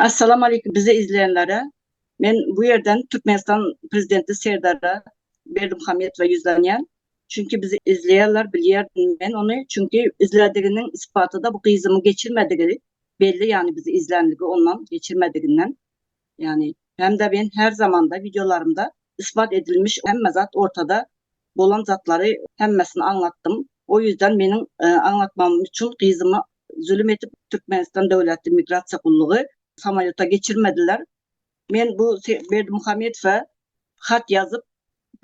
Assalam Aleýkum bizi izleýänlere men bu ýerden Türkmenistan Prezidenti Serdara Berdimuhamedowa ýüzlenýän çünki bizi izleýärler bilýärdim men ony çünki izlediginiň ispatyda bu gyzymyň geçirmedigi belli ýagny bizi izlänligi ondan geçirmediginden Ýagny hem-de men her zamanda wideolarymda isbat edilmiş hemme zat ortada bolan zatlary hemmesini aňlatdym. O ýüzden meniň aňlatmagym üçin gyzymy zülüm edip Türkmenistan döwlet immigrasiýa gullugy samolýota geçirmediler. Men bu Berdimuhamedowa hat ýazyp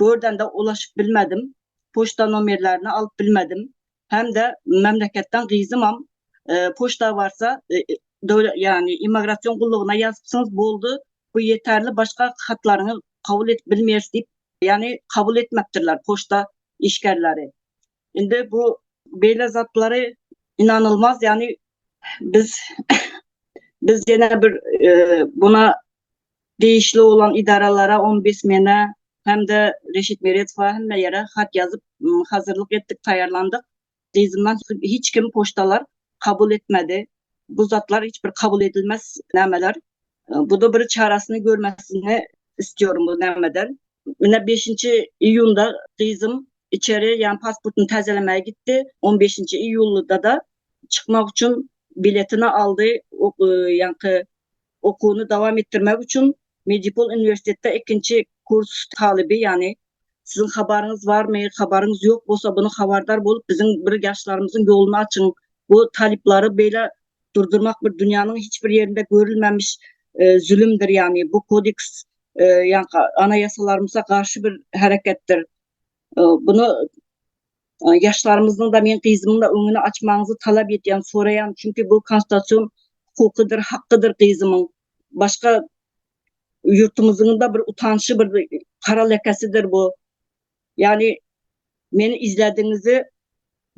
gördende ulaşyp bilmedim. Poçta nomerlerini alyp bilmedim. hem-de memleketden gyzymam poçta barsa döwlet ýagny immigrasion gullugyna ýazypsyňyz boldy bu ýeterli başga hatlaryňy kabul edip bilmeris diýip ýagny kabul etmepdirler poçta işgerleri indi bu beýle zatlary ynanylmaz ýagny biz biz ýene bir buna degişli bolan edaralara, ombudsmene hem-de Reşit Meredowa hemme ýere hat ýazyp, hazyrlyk etdik, taýýarlandyk. Dyzyndan hiç kim poçtalar kabul etmedi. Bu zatlar hiç bir kabul edilmez nämeler. Bu-da bir çaresini görmesini istiyorum bu nämeden. Ine beşinji iýunda gyzym içeri ýa pasportyny täzelemäge gitdi. On beşinji iýulda-da çykmak üçin biletini aldy. Ýaňky Okuwyny dowam etdirmek üçin Medipol uniwersitetde ikinji kurs talyby ýagny Siziň habaryňyz barmy? Habaryňyz ýok bolsa bunu habardar bolup biziň bir ýaşlarymyzyň ýoluny açyň. Bu talyplary beýle durdurmak bir dünýäniň hiç bir ýerinde görülmemiş zülümdir ýagny bu kodeks ýa anaýasalarymyza garşy bir hereketdir. Bunu Ýaşlarymyzyň-da, meň gyzymyň-da öňüni açmagyňyzy talap edýän, soraýan, çünki bu konstitusion hukukydyr, hakkydyr gyzymyň. Başga ýurtumyzyň-da bir utançly bir gara lekesidir bu. Ýagny meni izlädigiňizi,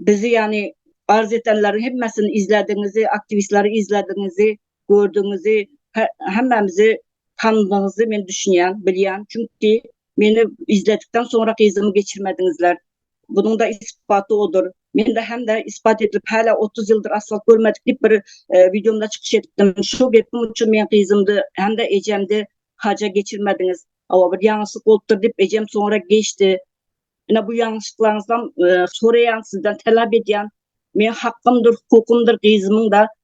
bizi ýagny arz edenleriň hemmesini izlädigiňizi, aktiwistleri izlädigiňizi, gördügiňizi, hemmämizi tanadygyňyzy men düşünýän, bilýän, çünki Meni izledikden soňra gyzymy geçirmediňizler. Bunuň-da isbaty odur. Men-de hem-de isbat edilip häle otuz ýyldyr asfalt görmedik diýip bir wideomda çykyş edipdim. Şu gepim üçin meň gyzymdy hem-de ejemdi haja geçirmediňiz. Hawa, bir ýalňyşlyk bolupdyr diýip ejem soňra geçdi. Ine bu ýalňyşyklaryňyzdan soraýan sizden talap edýän. Meň hakymdyr, hukukymdyr gyzymyň-da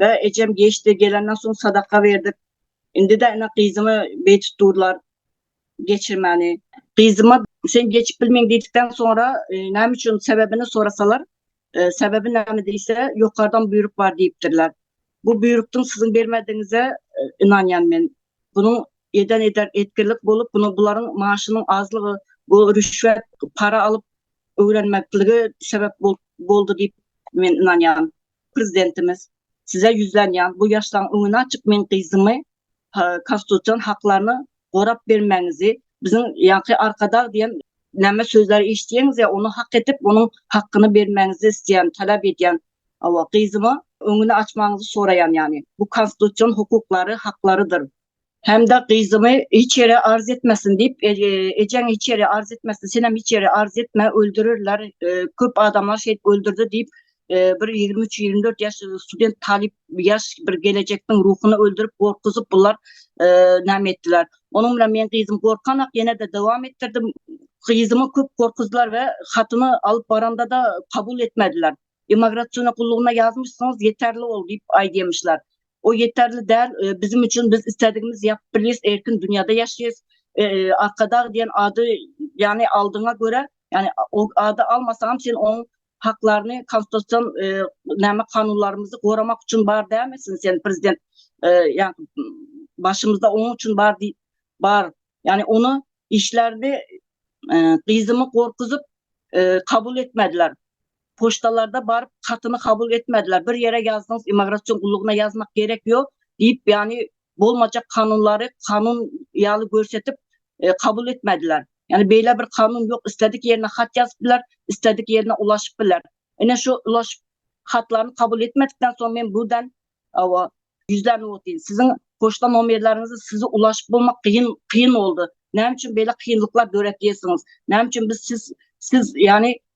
Bä ejem geçdi, gelenden soň sadaka berdik. Indi-de ine gyzymy beý tutdurlar geçirmäni. Gyzyma sen geçip bilmeň diýdikden soňra e, näme üçin sebäbini sorasalar, e, sebäbi näme diýse, ýokardan buýruk bar diýipdirler. Bu buýrukdyň siziň bermedigiňize e, ynanýan men. Bunuň eden eder etkirlik bolup, bunu bularyň maaşynyň azlygy, bu rüşwet, para alyp öwrenmekligi sebäp boldy diýip men ynanýan. Prezidentimiz, Size ýüzlenýän bu ýaşlaryň öňüni açyp meň gyzymy konstitusion haklaryny gorap bermäňizi biziň ýaňky Arkadag diýen näme sözleri eşitýäňiz ýa ony hak edip onuň hakgyny bermäňizi isleýän talap edýän gyzyma öňüni açmagyňyzy soraýan ýany bu konstitusion hukuklary haklarydyr. Hem-de gyzymy hiç ýere arz etmesin diýip, e, e, ejeň hiç ýere arz etmesin, senem hiç ýere arz etme, öldürerler, e, köp adamlar şeýdip öldürdi diýip, bir 23-24 ýaş student talyp ýaş bir gelejekdiň ruhuny öldürip gorkuzyp bular näme etdiler. Onuň bilen men gyzym gorkanak ýene de dowam etdirdim. Gyzymy köp gorkuzlar we hatyny alyp baranda da kabul etmediler. Immigrasiýona gullugyna ýazmyşsyňyz ýeterli bol diýip aýdýamyşlar. o ýeterli däl biziň üçin biz isledigimiz ýapyp bilýäs erkin dünýäde ýaşaýas arkadag diýen ady ýagny aldyňa görä ýagny o ady almasaňam sen oň haklaryny konstitusion näme kanunlarymyzy goramak üçin bar dälmisin sen prezident ýagny başymyzda oň üçin bar diýip bar ýagny ony işlerde gyzymy gorkuzyp kabul etmediler Poçtalarda baryp hatyny kabul etmediler. Bir ýere ýazdyňyz imagratsion gullugyna ýazmak gerek ýok diýip ýany bolmajak kanunlary kanun ýaly görsetip kabul etmediler. Ýani beýle bir kanun ýok isledik ýerine hat ýazyp biler isledik ýerine ulaşyp biler. Ine şu ulaşyp hatlaryny kabul etmedikden soň men burdan awa ýüzlenip otyryn. Siziň poçta nomerleriňizi sizi ulaşyp bolmak kyn kyn boldy. Näme üçin beýle kynlyklar döretýesiňiz? Näme üçin biz siz siz ýani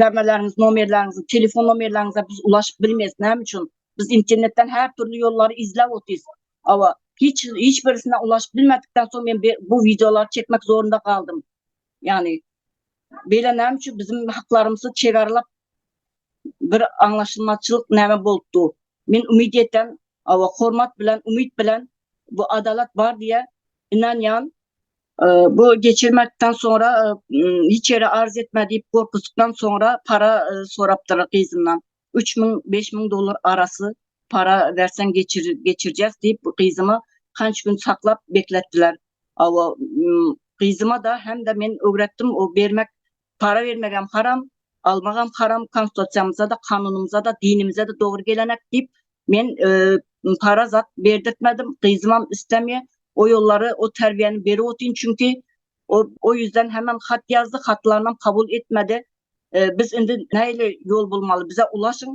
Damalarňyz nomerleriňizi, telefon nomerleriňize biz ulaşyp bilmeris. Näme üçin? Biz internetden her türlü ýollary izläp otyrys. Awa, hiç hiç birisine ulaşyp bilmedikden soň men bu wideolary çekmek zorunda galdym. Ýagny beýle näme üçin biziň haklarymyzy çegarlap bir aňlaşylmazçylyk näme bolupdy. Men umyt etýän, awa hormat bilen, umyt bilen bu adalat bar diýe inanýan. Bu geçirmekden soňra hiç ýere arz etme diýip gorkuzykdan soňra para sorapdyr gyzyndan. Üç müň, beş müň dollar arasy para berseň geçirjek diýip gyzymy hanç gün saklap bekletdiler. Gyzyma-da hem-de men öwretdim o bermek Para bermegem haram, almagam haram, konstutiýamyzada, kanunymyzada, dinimizede dogry gelenek diýip, men para zat berdirtmedim, gyzymam islemýär. O ýollary, o terbiýäni berip otyryn, çünki o o ýüzden hemem hat ýazdy, hatlarynam kabul etmedi. Biz indi nähili ýol bolmaly, bize ulaşyň.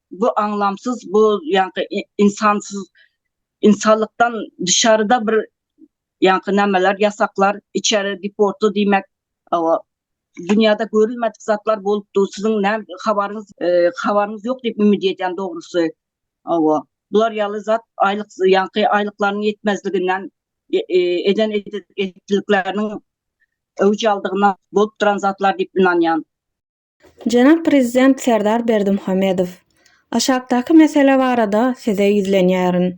Bu aňlamsyz bu ýaňky insansyz insanlykdan dışarda bir ýaňky nämeler ýasaklar içeri deportda diýmek awa dünýäde görülmedik zatlar bolup dur siziň nä habaryňyz e, habaryňyz ýok diýip ümit edýän dogrusy awa bular ýaly zat aýlyk ýaňky aýlyklaryň ýetmezliginden e, e, eden etdikleriniň öwüj aldygyna bolup duran zatlar diýip ynanýan Jenap Prezident Serdar Berdimuhamedow, aşakdaky mesele barada Size ýüzlenýärin.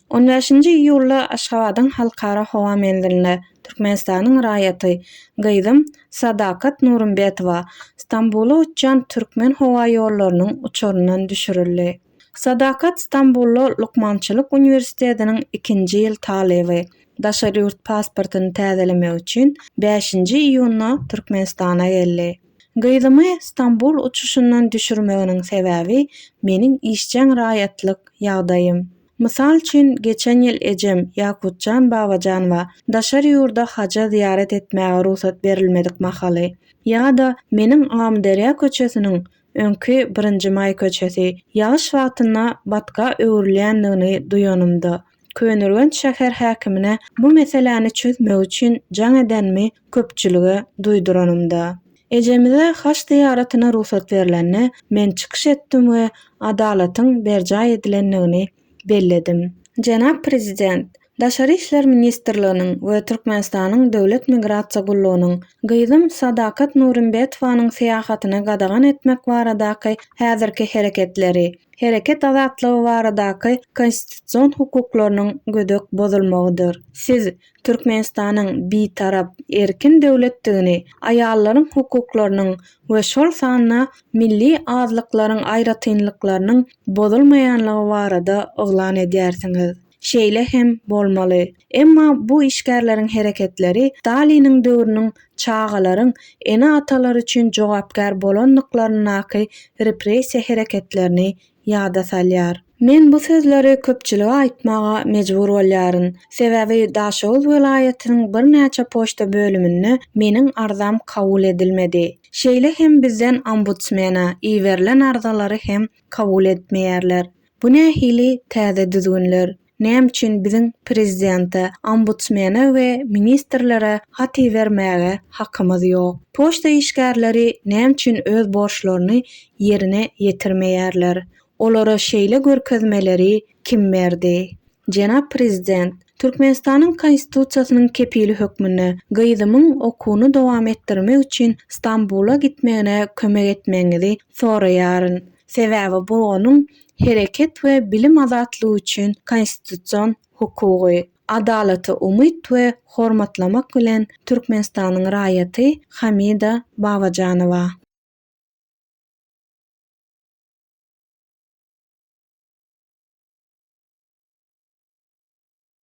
On bäşinji iýulda Aşgabadyň Halkara howa menzilinde Türkmenistanyň raýaty, gyzym Sadakat Nurumbetowa Stambula uçýan Türkmen howa ýollarynyň uçaryndan düşürildi. Sadakat Stambulda lukmançylyk uniwersitetiniň ikinji ýyl talyby. Daşary ýurt pasportyny täzelemek üçin bäşinji iýunda Türkmenistana geldi. Gyzymy Stambul uçuşyndan düşürmeginiň sebäbi meniň işjeň raýatlyk ýagdaýym. Mysal üçin, geçen ýyl ejem Ýakutjan Babajanowa daşary ýurda haja zyýarat etmäge rugsat berilmedik mahaly ýa-da meniň Amyderýa köçesiniň, öňki Birinji maý köçesi, ýagyş wagtynda batga öwrülýändigini duýanymda, Köneürgenç şäher häkimine bu meseläni çözmek üçin jaň edenimi köpçülige duýduranymda. Ejemize haç zyýaratyna rugsat berlende men çykyş etdim we adalatyň berjaý edilendigini belledim. Jenap Prezident, Daşary işler ministrliginiň we Türkmenistanyň Döwlet migrasiýa gullugynyň gyzym Sadakat Nurimbetowanyň syýahatyny gadagan etmek baradaky häzirki hereketleri Hereket azatlygy baradaky konstitusion hukuklarynyň gödek bozulmagydyr. Siz Türkmenistanyň Bitarap, erkin döwletdigini, aýallaryň hukuklarynyň we şol sanda milli azlyklaryň aýratynlyklarynyň bozulmaýanlygy barada yglan edýärsiňiz. Şeýle hem bolmaly. Emma bu işgärleriň hereketleri Staliniň döwrüniň çagalaryň ene-atalary üçin jogapkär bolandyklaryndaky repressiýa hereketlerini ýada salýar. Men bu sözleri köpçülige aýtmaga mejbur bolýaryn. Sebäbi Daşoguz welaýatynyň birnäçe poçta bölüminde meniň arzam kabul edilmedi. Şeýle hem bizden ombudsmena iberilen arzalary hem kabul etmeýärler. Bu nähili täze düzgünler? Näme üçin biziň prezidente, ombudsmene we ministrlere hat ibermäge hakymyz ýok? Poçta işgärleri näme üçin öz borçlaryny ýerine ýetirmeýärler? Olara şeýle görkezmeleri kim berdi? Jenap prezident, Türkmenistanyň Konstitusiýasynyň kepili hökmünde gyzymyň okuwyny dowam etdirmek üçin Stambula gitmegine kömek etmegiňizi soraýaryn. Sebäbi bu onuň hereket we bilim azatlygy üçin konstitusion hukugy. Adalata umyt we hormatlamak bilen Türkmenistanyň raýaty Hamida Babajanowa.